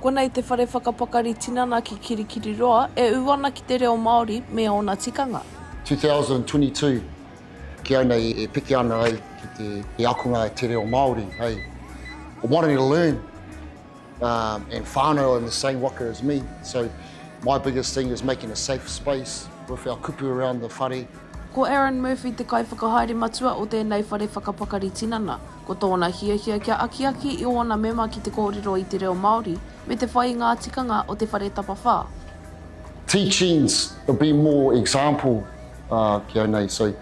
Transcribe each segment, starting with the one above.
Konei te whare whakapakari tinana ki Kirikiriroa e ū ana ki te reo Māori me ōna tikanga. 2022 Ki au nei e piki ana au ki te akonga Te Reo Māori hei What a learn! Um, and whānau in the same waka as me. So my biggest thing is making a safe space with our kupu around the whare. Ko Aaron Murphy te kaiwhakahaere matua o tēnei whare whakapakari tinana. Ko tōna hiahia kia akiaki i ōna mema ki te kōrero i te reo Māori me te whai i ngā tikanga o te whare tapawhā. Teachings to be more example uh, kia nei, so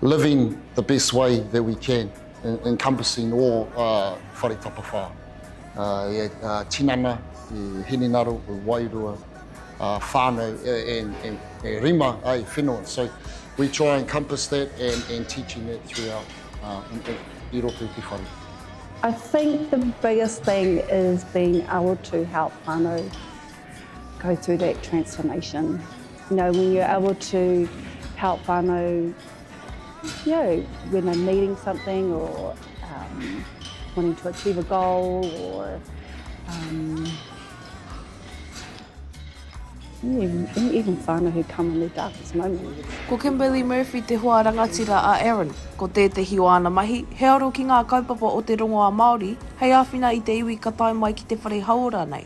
living the best way that we can. encompassing all whare tapawhā, tinana, hinengaro, wairua, whānau, e rima, ai, whenua, so we try and encompass that and teaching that throughout i roto i te whare. I think the biggest thing is being able to help whānau go through that transformation, you know, when you're able to help whānau, You know, when I'm needing something or um, wanting to achieve a goal or um, even, even whānau who come in their darkest moments. Ko Kimberly Murphy te hoa rangatira a Aaron. Ko tētehi o āna mahi, he aro ki ngā kaupapa o te rongoā Māori, hei āwhina i te iwi ka tae mai ki te whare hauora nei.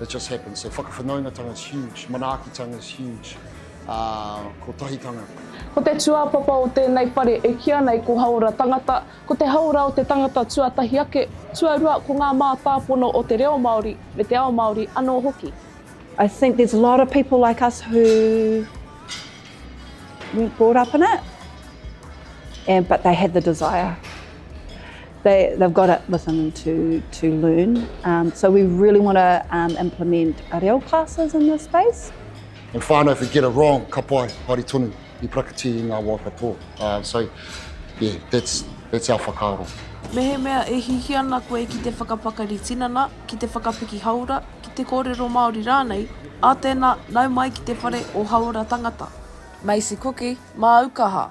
It just happens, so whakawhanaungatanga is huge, manaakitanga is huge, uh, kotahitanga. Ko te tūāpapa o tēnei whare e kīa nei ko Haora Tangata, ko te haora o te tangata tuatahi ake, tuarua ko ngā mātāpono o te reo Māori me te ao Māori anō hoki. I think there's a lot of people like us who weren't brought up in it, and, but they had the desire. They, they've got it within them to, to learn. Um, so we really want to um, implement reo classes in this space. And whānau, if we get it wrong, ka pai, haere tonu, i prakati i ngā wā katoa. Uh, so, yeah, that's, that's our whakaaro. Mehemea e hihi ana koe ki te whakapakari tinana, ki te whakapiki hauora, ki te kōrero Māori rānei, ā tēnā, nau mai ki te whare o Hauora Tangata. Macy Cooke, Māu kaha,